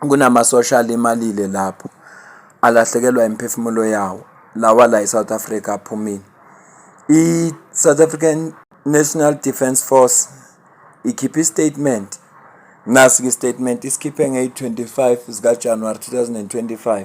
kunamasosha alimalile lapho alahlekelwa imiphefumulo yawo lawa la eSouth Africa aphumile i-South African National Defence Force ikhiphe istatement nasi-ke istatement isikhiphe ngeyi-25 zikaJanuwari 2025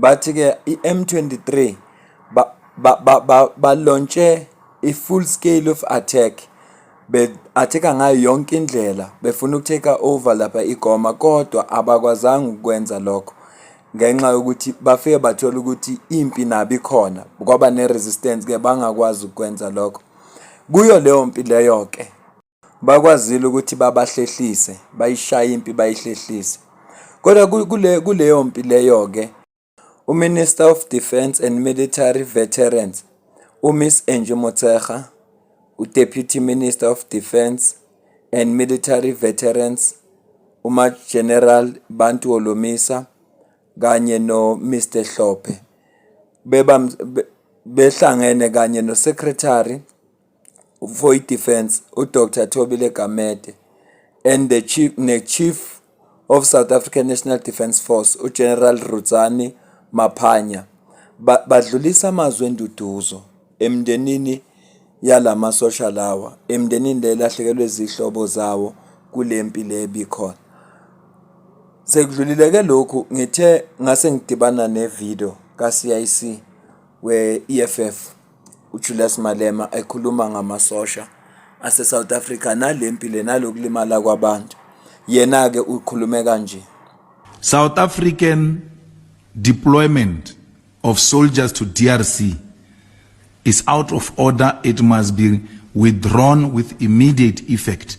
bathi ke i-M23 ba ba ba, ba, ba launche a full scale of attack be atheka ngayo yonke indlela befuna ukutake over lapha igoma kodwa abakwazanga ukwenza lokho ngenxa yokuthi bafike bathola ukuthi impi nabo ikhona kwaba ne-resistance ke bangakwazi ukwenza lokho kuyo leyo mpi leyo ke Bakwazile ukuthi babahlehlise, bayishaye impi bayihlehlise. Kodwa kule kuleyo mpi leyo-ke uMinister of Defence and Military Veterans uMiss Angie Motshekga, uDeputy Minister of Defence and Military Veterans uMageneral Bantu Holomisa kanye noMr Hlophe beba behlangene kanye noSecretary Void Defence uDr Thobile Gamede and the chief ne-chief of South African National Defence Force uGeneral Rudzani Maphanya badlulisa amazwi enduduzo emndenini yalamasosha lawa emndenini le lahlekelwe izihlobo zawo kule mpi le ebikhona sekudlulileke lokhu ngithe ngase ngidibana ne-video ka-CIC we-EFF UJulius Malema ekhuluma ngamasosha aseSouth Africa nale mpi le nalokulimala kwabantu. Yena-ke ukhulume kanje. South African deployment of soldiers to DRC is out of order. It must be withdrawn with immediate effect.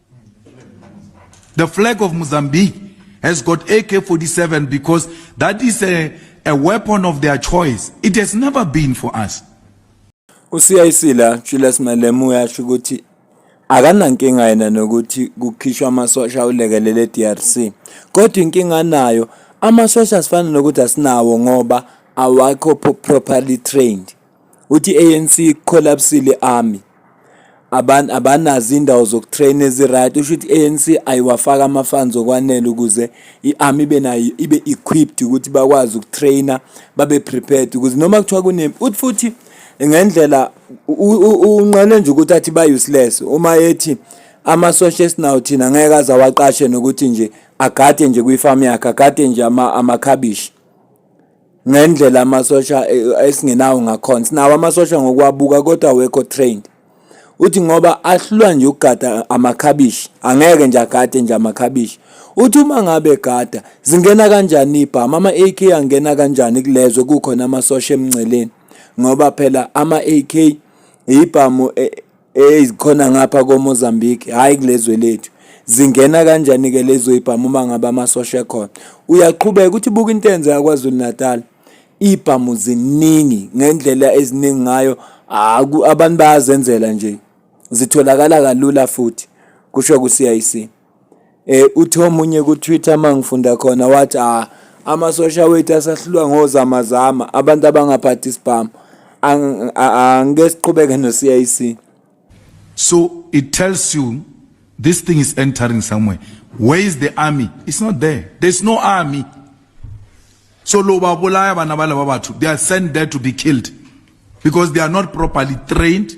The flag of Mozambique has got AK-47 because that is a, a weapon of their choice. It has never been for us. UCIC la Julius Malema uyasho ukuthi akanankinga yena nokuthi kukhishwa amasosha ulekelele DRC kodwa inkinga anayo amasosha asifana nokuthi asinawo ngoba awakho properly trained Uthi i-ANC ikholapsile i-army, abanazo iy'ndawo zokutreyina ezi-right. Usho ukuthi i-ANC ayiwafaki ama-funds okwanele ukuze i-army ibe nayo ibe equipped ukuthi bakwazi ukutreyina babe prepared ukuze noma kuthiwa kunempi. Uthi futhi ngendlela unqale nje ukuthi athi ba-useless uma ethi amasosha esinawo thina ngeke aze awaqashe nokuthi nje agade nje kwifamu yakhe, agade nje amakhabishi. ngendlela amasosha eh, esingenawo ngakhona sinawo amasosha ngokwabuka kodwa awekho trained uthi ngoba ahlulwa nje ukugada amakhabishi angeke nje agade nje amakhabishi uthi uma ngabe gada zingena kanjani ibhama ama-ak angena kanjani kulezwe kukhona amasosha emngceleni ngoba phela ama-ak ibhamu eh, Hey zikhona ngapha koMozambique hayi kulezwe lethu zingena kanjani ke lezo ibhamu uma ngabe amasosha ekhona uyaqhubeka ukuthi buka into enze yaKwaZulu Natal ibhamu ziningi ngendlela eziningi ngayo abantu bayazenzela nje zitholakala kalula futhi kusho ku-CIC Eh uthi omunye ku Twitter mangifunda khona wathi ah amasosha wethu asahlulwa ngozama zama abantu abangaphathi isibhamu angeke siqhubeke no CIC so it tells you this thing is entering somewhere where is the army it's not there there's no army so lo babolaya bana balaba bathu they are sent there to be killed because they are not properly trained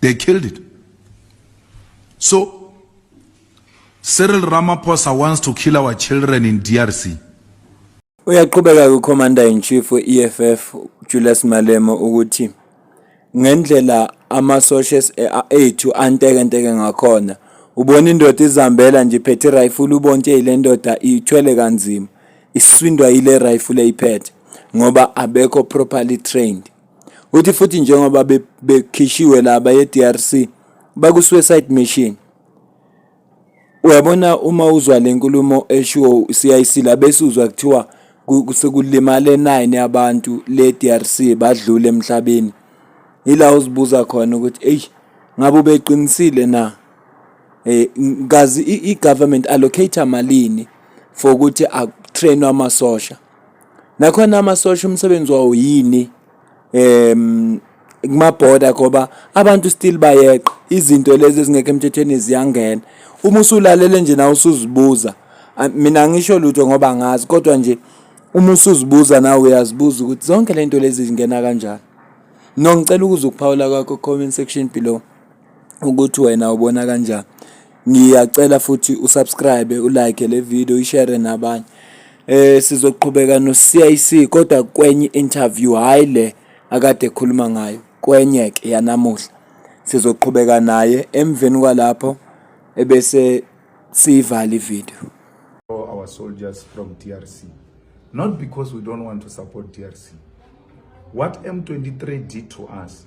they killed it so Cyril Ramaphosa wants to kill our children in DRC. Uyaqhubeka kuCommander in Chief we-EFF Julius Malema ukuthi ngendlela amasosha ethu antekenteke ngakhona ubona indoda izihambela nje iphethe irayifula ubona ukuthi le ndoda ithwele kanzima isindwa yile rayifula eyiphethe ngoba abekho properly trained. Uthi futhi njengoba bekhishiwe laba ye-DRC baku-suicide mission. Uyabona uma uzwa le nkulumo eshiwo CIC la bese uzwa kuthiwa sekulimale nine abantu le-DRC badlule emhlabeni. Yila uzibuza khona ukuthi eyi ngabe ubeqinisile na? Eh kazi i-government allocate malini for ukuthi akutrainwe amasosha. Nakhona amasosha umsebenzi wawo yini em kumabhoda ngoba abantu still bayeqa izinto lezi ezingekho emthethweni ziyangena uma usulalele nje nawe usuzibuza a- mina angisho lutho ngoba ngazi kodwa nje uma usuzibuza nawe uyazibuza ukuthi zonke lento lezi zingena kanjani nongicela ukuza ukuphawula kwakho comment section below ukuthi wena ubona kanjani ngiyacela futhi usubscribe ulike le video ishare nabanye eh sizoqhubeka no CIC kodwa kwenye interview hayi le akade ekhuluma ngayo kwenye ke yanamuhla sizoqhubeka naye emveni kwalapho ebese siyivala ivideo our soldiers from DRC not because we don't want to support DRC what M23 did to us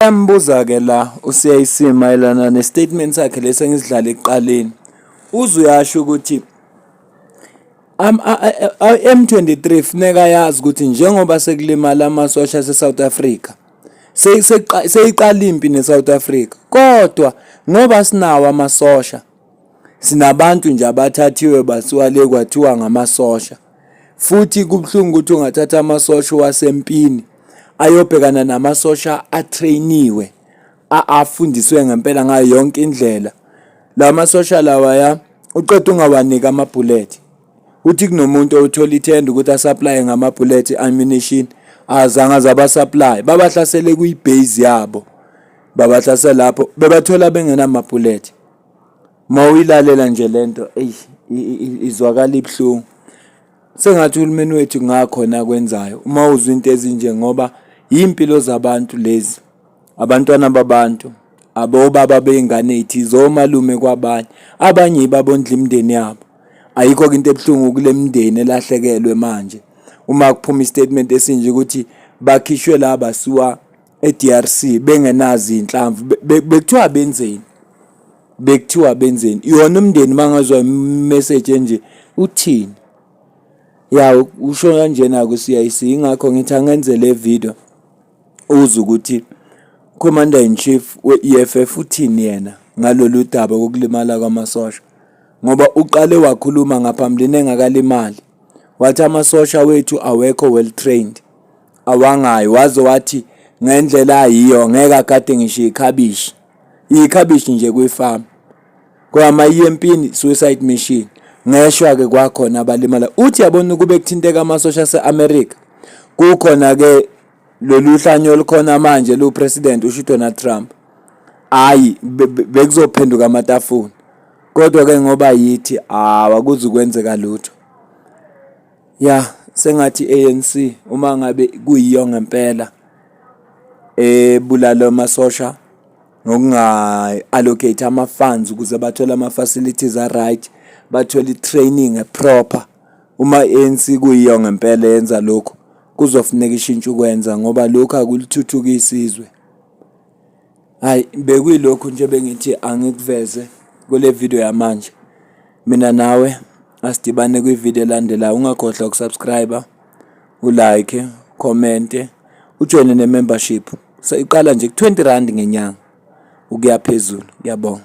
Embuza-ke la uCIC mayelana ne-statement sakhe lesi engisidlala ekuqaleni. Uze uyasho ukuthi M23 funeka yazi ukuthi njengoba sekulimala amasosha ase-South Africa seyiqala impi ne-South Africa kodwa ngoba sinawo amasosha sinabantu nje abathathiwe basiwa le kwathiwa ngamasosha futhi kubuhlungu ukuthi ungathatha amasosha wasempini ayobhekana namasosha atrainiwe afundiswe ngempela ngayo yonke indlela la masosha lawa ya uqeda ungawanika amabhullet uthi kunomuntu othola ithenda ukuthi asupply ngamabhullet ammunition azange azaba supply babahlasele kuyibase yabo babahlasela lapho bebathola bengenamabhullet Uma uyilalela nje le nto eyi izwakala ibuhlungu. Sengathi uhulumeni wethu kungakhona akwenzayo uma uzwa into ezinje ngoba iy'mpilo zabantu lezi, abantwana babantu, abobaba bey'ngane ey'thize, omalume kwabanye. Abanye yibo abondla imindeni yabo. Ayikho-ke into ebuhlungu kule mindeni elahlekelwe manje uma kuphuma isitatimenti statement esinje ukuthi bakhishwe la basiwa e-DRC bengenazo iy'nhlamvu bekuthiwa benzeni. bekuthiwa benzeni yona umndeni mangazwa imessage enje uthini ya usho kanjena ku CIC ingakho ngithi angenze le video uze ukuthi commander in chief we EFF uthini yena ngalolu daba kokulimala kwamasosha ngoba uqale wakhuluma ngaphambilini engakalimali wathi amasosha wethu awekho well trained awangayo waze wathi ngendlela ayiyo ngeke agade ngisho ikhabishi yikhabishi nje kwifamu kwama yempini suicide mission ngeshwa ke kwakhona abalimala uthi yabona ukube kuthinteka amasosha ase-america kukhona ke lolu hlanyo olukhona manje lupresident usho udonald trump hhayi bekuzophenduka amatafula kodwa-ke ngoba yithi hawu akuzukwenzeka lutho Ya sengathi i-ANC uma ngabe kuyiyo ngempela ebulala amasosha ngokunga-allocate ama-funds ukuze bathole ama-facilities a-right, bathole i-training e-proper. Uma i-ANC kuyiyo ngempela yenza lokhu, kuzofuneka ishintshe ukwenza ngoba lokhu akulithuthukisi izwe. Hayi bekuyilokhu nje bengithi angikuveze kule video yamanje. Mina nawe asidibane kwi-video elandelayo. Ungakhohlwa ukusubscribe, ulike, commente, ujoyine ne-membership. Seyiqala nje ku-20 rand ngenyanga ukuya phezulu. Ngiyabonga.